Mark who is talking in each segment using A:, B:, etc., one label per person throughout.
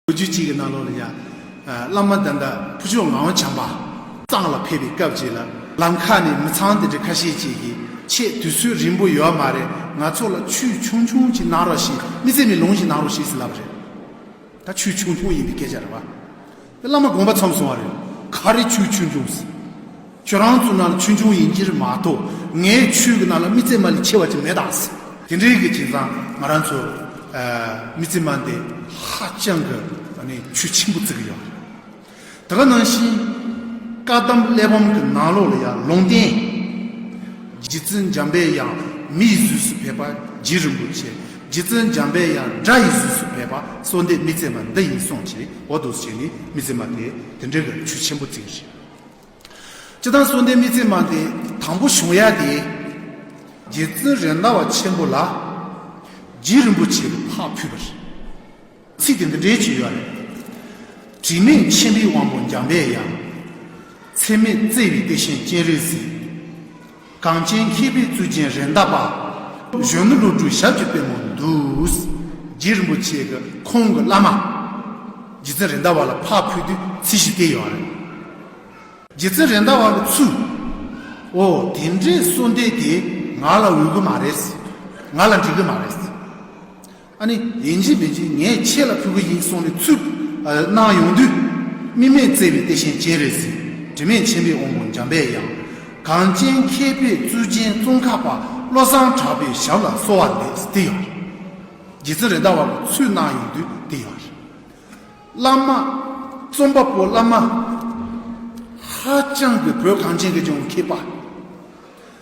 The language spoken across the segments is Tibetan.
A: ལོ་རྒྱུས་གཅིག་གི་ནང་ལོགས་ལ་ཡ། བླ་མ་དམ་པ་ཕུ་ཆུང་ངའོ་བྱམས་པ། ཚང་ལ་ཕེབས་པའི་སྐབས་ཅིག་ལ་ལམ་ཁ་ནས་མི་ཚང་དེ་འདྲ་ཁ་ཤས་ཅིག་གིས་ཆེས་དུས་ཚོད་རིང་པོ་ཡོད་མ་རེད་ང་ཚོ་ལ་ཆུས་ཆུང་ཆུང་ཅིག་གནང་རོགས་ཞེས་མི་ཚེ་མི་ལོང་ཞིག་གནང་རོགས་ཞེས་ཟེར་ལབ་པ་རེད། ད་ཆུས་ཆུང་ཆུང་ཡིན་པའི་སྐད་ཆ་རེད་བ། དེ་བླ་མ་དགོངས་པ་ཚོམས་སོང་བ་རེད། ག་རེ་ཆུས་ཆུང་ཆུང་ཟེར། ཁྱོད་རང་ཚོ་ནང་ལ་ཆོས་འབྱུང་ཡིན་གྱིར་མ་གཏོགས་ངའི་ཆོས་ཀྱི་ནང་ལ་རྨི་རྩེད་མ་ལས་ཆེ་བ་ཅིག་མེད་དྭགས་ཟེར། དེ་འདྲའི་གི་དེང་སང་ང་རང་ཚོ་རྨི་རྩེད་མ་འདི་ཧ་ཅང་གི་ཆོས་ཆེན་པོ་བརྩི་གི་ཡོད། དེ་ག་ནང་བཞིན་བཀའ་གདམས་གླེགས་བམ་གི་ནང་ལོགས་ལ་ཡང་ལུང་བསྟན། རྗེ་བཙུན་འཇམ་དཔལ་ཡང་མི་ཡི་གཟུགས་སུ་ཕེབས་པ་རྗེ་རིན་པོ་ཆེ་རྗེ་བཙུན་འཇམ་དཔལ་ཡང་སྒྲ་ཡི་གཟུགས་སུ་ཕེབས་པ་གསོལ་འདེབས་རྨི་རྩེད་མ་འདི་ཡིན་གསུངས་ཀྱིས་འོ་དུ་བྱས་ནས་རྨི་རྩེད་མ་དེ་དེ་འདྲའི་གི་ཆོས་ཆེན་པོ་བརྩི་གི་རེད། སྤྱི་དང་གསུང་ལྡན་མི་ཚེ་མ་འདི་དང་པོ་བྱུང་ཡ་དེ། རྗེ་བཙུན་རེད་མདའ་བ་ཆེན་པོ་ལ། རྗེ་རིན་པོ་ཆེས་ཕག་ཕུལ་བ་རེད། ཚིག་དེ་འདི་འདྲའི་བྱུས་ཡོད་རེད། དྲི་མེད་མཆིམས་ཕུའི་དབང་པོ་འཇམ་པའི་དབྱངས། ཚད་མེད་བརྩེ་བའི་དེ་བཞིན་སྤྱན་རས་གཟིགས། གངས་ཅན་མཁས་པའི་གཙུག་རྒྱན་རེད་མདའ་པདྨ་གཞོན་ནུ་ཀླུ་སྒྲུབ་ཞབས་ཀྱི་པད་མོ་འདུག། རྗེ་རིན་པོ་ཆེ་གི་ཁོང་གི་བླ་མ། རྗེ་བཙུན་རེད་མདའ་བ་ལ་ཕག་ཕུལ་དུས་ཚིག་ཞིག་བལྟས་ཡོང་བ་རེད། རྗེ་བཙུན་རེད་མདའ་བ་གི་ཚུལ། འོ་དེ་འདྲའི་གསོལ་འདེབས་དེ་ང་ལ་འོས་གི་མ་རེད། ང་ལ་འགྲིག་གི་མ་རེད། ཨ་ནི་ཡིན་གྱི་མིན་གྱི་ངས་ཁྱེད་ལ་ཕུལ་གི་ཡིན་གསུངས་ནས་ཚུར་གནང་ཡོང་དུས། སྨིན་མས་བཙལ་བའི་ལྟས་ཤན་སྐྱེལ་རེ་ཟིན་དྲི་མེད་མཆན་པས་འོང་དགོས་འཇམ་དཔལ་ཡང། གངས་ཅན་མཁས་པའི་གཙུག་རྒྱན་ཙོང་ཁ་པ་བློ་བཟང་གྲགས་པའི་ཞབས་ལ་གསོ་བ་ལེགས་འདི་ཡོང། རྗེ་བཙུན་རེད་ད་བར་གྱི་ཚུལ་གནང་ཡོང་དུས་འདི་ཡོང། བླ་མ། རྩོམ་པ་པོ་བླ་མ། ཧ་ཅང་གི་བོད་གངས་ཅན་གྱི་ལྗོངས་ཀྱི་མཁས་པ།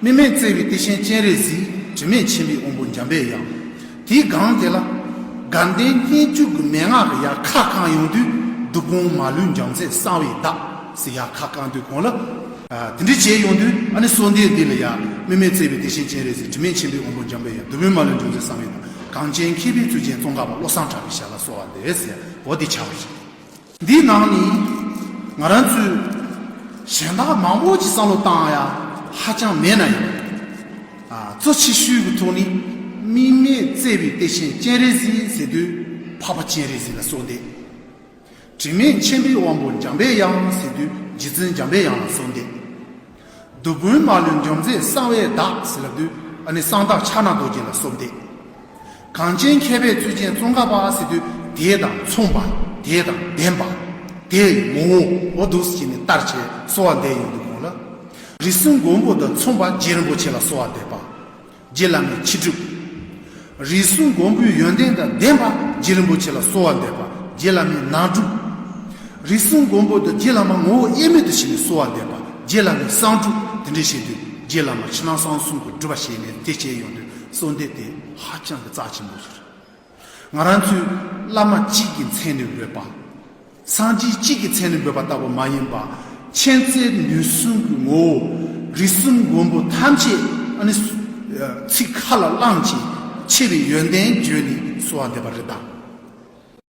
A: སྨིན་མས་གཙེས་པའི་ཏི་ཤན་སྤྱན་རས་གཟིགས་དྲི་མེད་མཆིམས་ཕུའི་དབོན་པོ་འཇམ་པའི་དབྱངས། དེའི་སྒང་དེ་ལ། དགའ་ལྡན་སྙན་བརྒྱུད་ཀྱི་མན་ངག་གི་ཡ་ཁ་བསྐང་ཡོང་དུས་བདུད་དཔུང་མ་ལུས་འཇམ་རྩལ་གསང་བའི་བདག་ཟེར་ཡ་ཁ་བསྐང་དུས་གོང་ལ། དེ་འདྲས་བྱས་ཡོང་དུས་ཨ་ནི་སོ་འདས་འདི་ལ་ཡ། སྨིན་མས་གཙེས་པའི་ཏི་ཤན་སྤྱན་རས་གཟིགས་དྲི་མེད་མཆིམས་ཕུའི་དབོན་པོ་འཇམ་པའི་དབྱངས་བདུད་དཔུང་མ་ལུས་འཇམ་རྩལ་གསང་བའི་བདག། གངས་ཅན་མཁས་པའི་ཚུལ་ཅན་ཙོང་ཁ་པ་བློ་བཟང་གྲགས་པའི་ཞལ་ལ་གསོལ་བ་འདེབས། ཟེར་བོ་འདི་བྱ་བ་ཞིག་ཡིན། འདིའི་ནང་ནས་ང་རང་ཚོའི་གཞན་དག་མང་པོ་ཞིག་བསམ་བློ་བཏང་ཡ་ཧ་ཅང་མེད་ན་ཡང། གཙོ་ཆེ་ཤོས་ཀྱི་ཐོག་ནས་དམིགས་མེད་བརྩེ་བའི་གཏེར་ཆེན་སྤྱན་རས་གཟིགས་ཟེར་དུས་འཕགས་པ་སྤྱན་རས་གཟིགས་ལ་གསོལ་འདེབས། དྲི་མེད་མཁྱེན་པའི་དབང་པོ་འཇམ་པའི་དབྱངས་ཟེར་དུས་རྗེ་བཙུན་འཇམ་པའི་དབྱངས་ལ་གསོལ་འདེབས། བདུད་དཔུང་མ་ལུས་འཇོམས་མཛད་གསང་བའི་བདག། གསང་བདག་ཕྱག་ན་རྡོ་རྗེ་ལ་སོགས་བཟླས། གངས་ཅན་མཁས་པའི་ཚུལ་ཅན་ཙོང་ཁ་པ། དེ་དང་མཚུངས་པ་དེ་དང་ལྡན་པ། དེ་ཡི་ངོ་བོ་འོ་བདུག་བྱས་ནས་བསྟར་བྱས་གསོལ་བ་འདེབས་ཡོངས་འདུ་དགོངས་ལ། རིགས་གསུམ་མགོན་པོ་དང་མཚུངས་པ་རྗེ་རིན་པོ་ཆེ་ལ་གསོལ་བ་འདེབས་པ། རྗེ་བླ་མའི་ཕྱི་སྒྲུབ། རིས་སུ་མགོན་པོའི་ཡོན་ཏན་དང་ལྡན་པ་རྗེ་རིན་པོ་ཆེ་ལ་གསོལ་བ་འདེབས་པ་རྗེ་བླ་མའི་ནང་སྒྲུབ། རིས་སུ་མགོན་པོ་དང་རྗེ་བླ་མ་ངོ་བོ་དབྱེར་མེད་དུ་ཕྱི་ནས་གསོལ་བ་འདེབས་པ་རྗེ་བླ་མའི་གསང་སྒྲུབ་དེ་འདྲའི་བྱེད་དུས་རྗེ་བླ་མ་ཕྱི་ནང་གསང་གསུམ་གྱི་སྒྲུབ་པ་བྱས་ནས་དེ་བྱས་ཡོང་དུས་གསོལ་འདེབས་དེ་ཧ་ཅང་གི་རྩ་ཆེན་པོ་ཞིག་རེད། ང་རང་ཚོས་བླ་མ་གཅིག་གི་མཚན་ནས་འབོད་པ། སངས་རྒྱས་གཅིག་གི་མཚན་ནས་འབོད་པ་ལྟ་བུ་མ་ཡིན་པར། མཁྱེན་བརྩེ་ནུས་གསུམ་གྱི་ངོ་བོ། རིགས་གསུམ་མགོན་པོ་ཐམས་ཅད་ནི། ཚིག་ཁ་ལ་བླངས་ཀྱིས་ཆེ་བའི་ཡོན་ཏན་བརྗོད་ནས་གསོལ་བ་འདེབས་པ་རེད་དཱ།